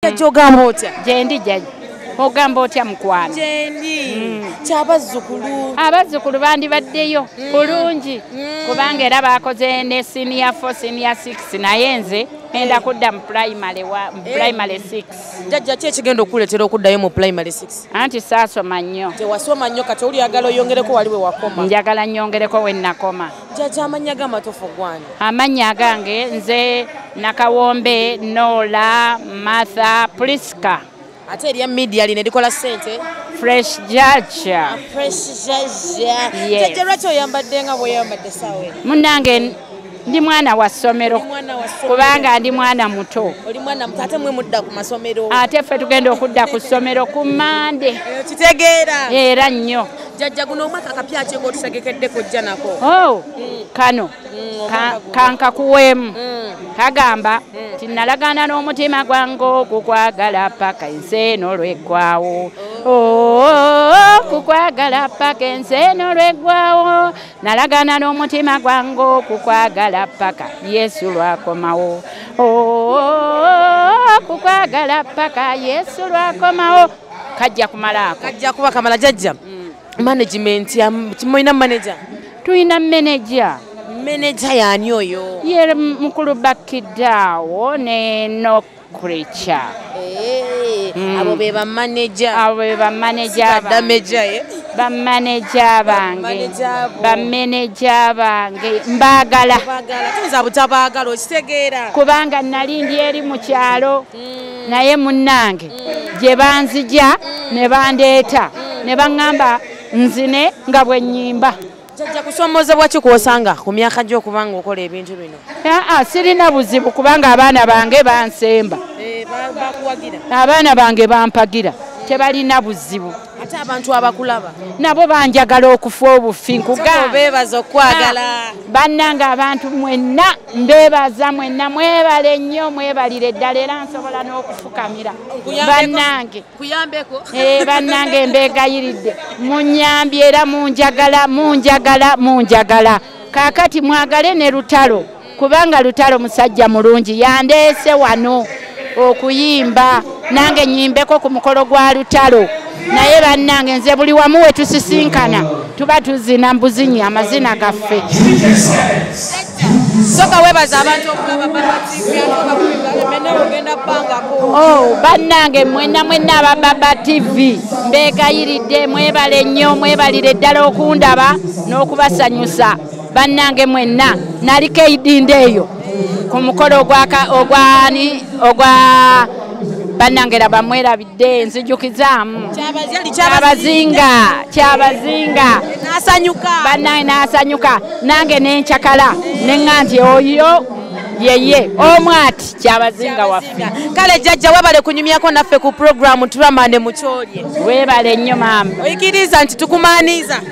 jajja ogamba otya gyendi jajja ogamba otya mukwano gyendi mm. kyabazzukulu abazzukulu bandibaddeyo mm. bulungi mm. kubanga era bakoze ne senior fo senior six naye nze enda eh. kudda mu primary wa mu eh. primary six jajja ki ekigenda okukuleetera okuddayo mu primary six anti saasoma nnyo tewasoma nnyo kati oli yagala oyongereko wali we wakoma njagala nnyongereko we nnakoma Jaja amanya ga matofu gwani. Amanya gange nze nakawombe Nola Martha Prisca. Ate eriya media line dikola sente. Fresh Jaja. Ah, fresh Jaja. Yes. Jaja racho yambadde nga boya yambadde sawe. Munange ndi mwana wa somero. Kubanga ndi mwana muto. Oli mwana muto ate mwe mudda ku masomero. Ate fe tugenda okudda ku somero ku mande. Kitegeera. Era nnyo. jajja guno omwaka kapya ki ngotusegekedde kojja nako oh, mm. kano mm, kankakuweemu mm. kagamba nti nalagaana n'omutima gwange okukwagala paka ensi eno lweggwawo oh, kukwagala paka ensi eno lweggwawo nalagaana n'omutima gwange okukwagala paka yesu lwakomawo kukwagala paka yesu lwakomawo kajja kumala ako kajja kuba kamala jajja mm. management kimulina manager tulina manager manager yani oyo ye mukulu bakidaawo ne no creature hey, eh, mm. abo be ba manager abo be ba manager ba manager ye eh? ba manager bange ba manager bange mbagala mbagala tuza butabagala okitegeera kubanga nali ndi eri mu kyalo mm. naye munnange mm. gye banzija mm. ne bandeeta mm. ne baŋŋamba nzine nga bwe nnyimba jajja kusoomozebwa ki kwosanga ku myaka gy'okuba nga okola ebintu bino aa sirina buzibu kubanga abaana bange bansemba eh, abaana bange bampagira tebalina buzibu ate abantu abakulaba nabo banjagala okufa obufi nkugabebaza okwagala ah, bannanga abantu mwenna mbebaza mwenna mwebale nnyo mwebalire ddala era nsobola n'okufukamira bannange eh, bannange mbegayiridde munyambye era munjagala munjagala munjagala kaakati mwagale ne lutalo kubanga lutalo musajja mulungi yandeese wano okuyimba nange nyimbeko ku mukolo gwa lutalo naye bannange nze buli wamu we tusisinkana tuba tuzina mbuzinyi amazina gaffe oh, bannange mwena mwena abababa tv mbegayiridde mwebale nnyo mwebalire ddala okundaba n'okubasanyusa bannange mwenna nali keidinda eyo ku mukolo ogwani ogwa bannange laba mwerabidde nzijukizaamu kyabazinga kyabazinga bannange nasanyuka nange nencakala nenga nti oyo yeye omu ati kyabazinga waffe kale jajja webale kunyumyako naffe ku programu turamande mukyolye webale nnyo maama oyikiriza nti tukumaniza